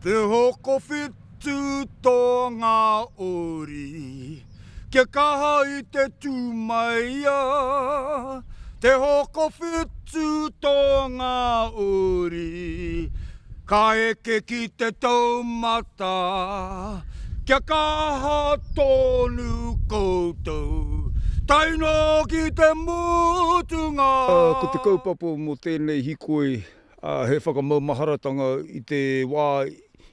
Te hokowhitu tō ngā uri kia kaha i te tū mai a Te hokowhitu tō ngā uri Ka eke ki te taumata. Kia kaha tonu koutou. Tae noa ki te mutunga. Ko te kaupapa mō tēnei hikoi, he whakamaumaharatanga i te wā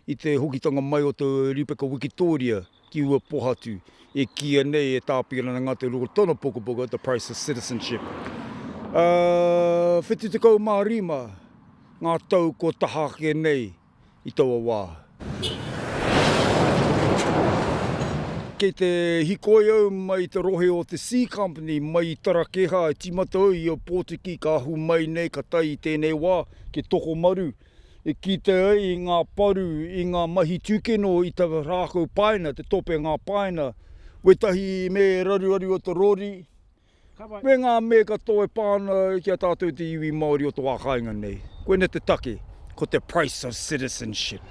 i te hokitanga mai o te Rīpeka Wikitōria. ki ua pohatu, e kīia nei e Tāpirana Ngāti-Rua tōna pukapuka The Price of Citizenship. Ā, 75 ngā tau kua taha ake nei i taua wā. Kei te hikoi au mai i te rohe o te C Company, mai i Tarakehā, i tīmata au i a Pōtiki, ka ahu mai nei, ka tae i tēnei wā, ki Tokomaru. e kitea ai i ngā paru, i ngā mahi tūkino i te rākau paina, te tōpengā paina, wētahi me raruaru o te rori, me ngā me katoa e pā ana ki a tātou te iwi Māori o te wā kāinga nei. Koinei te take, ko te price of citizenship.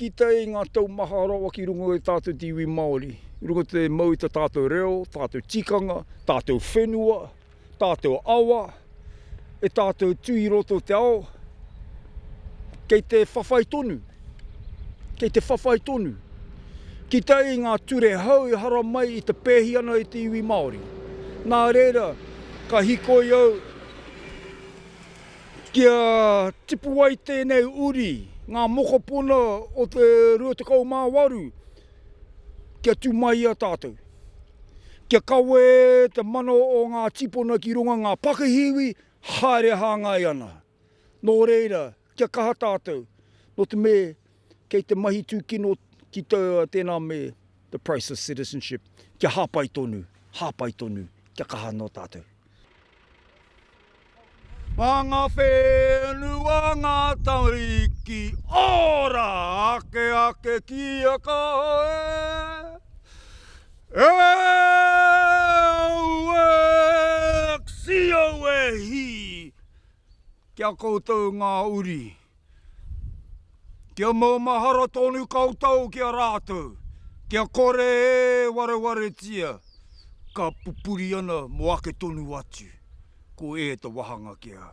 Kitea ai ngā tau maha rawa ki runga i a tātou te iwi Māori, i runga te mau i tā tātou reo, tātou tikanga, tātou whenua, tātou awa, e tātou tū i roto o te ao, kei te whawhai tonu, kei te whawhai tonu. Ki te i ngā ture hou e hara mai i te pēhi ana i te iwi Māori. Nā reira, ka hikoi au kia tipu ai tēnei uri, ngā mokopuna o te 28, Kia tu mai i a tatou. Kia kawe te mano o nga tipona ki runga nga pakihi iwi haere hangai ana. No reira, kia kaha tatou. No te me kei te mahi tukino ki to tena me the price of citizenship. Kia hapai tonu, hapai tonu. Kia kaha no tatou. Mā ngā whenua, ngā tamariki, ora ake ake ki a koe e aue Xioe hī! Ki a koutou ngā uri. Kia maumahara tonu koutou ki a rātou, kia kore e warewaretia ka pupuri ana mō ake tonu atu, ko e te wahanga kia.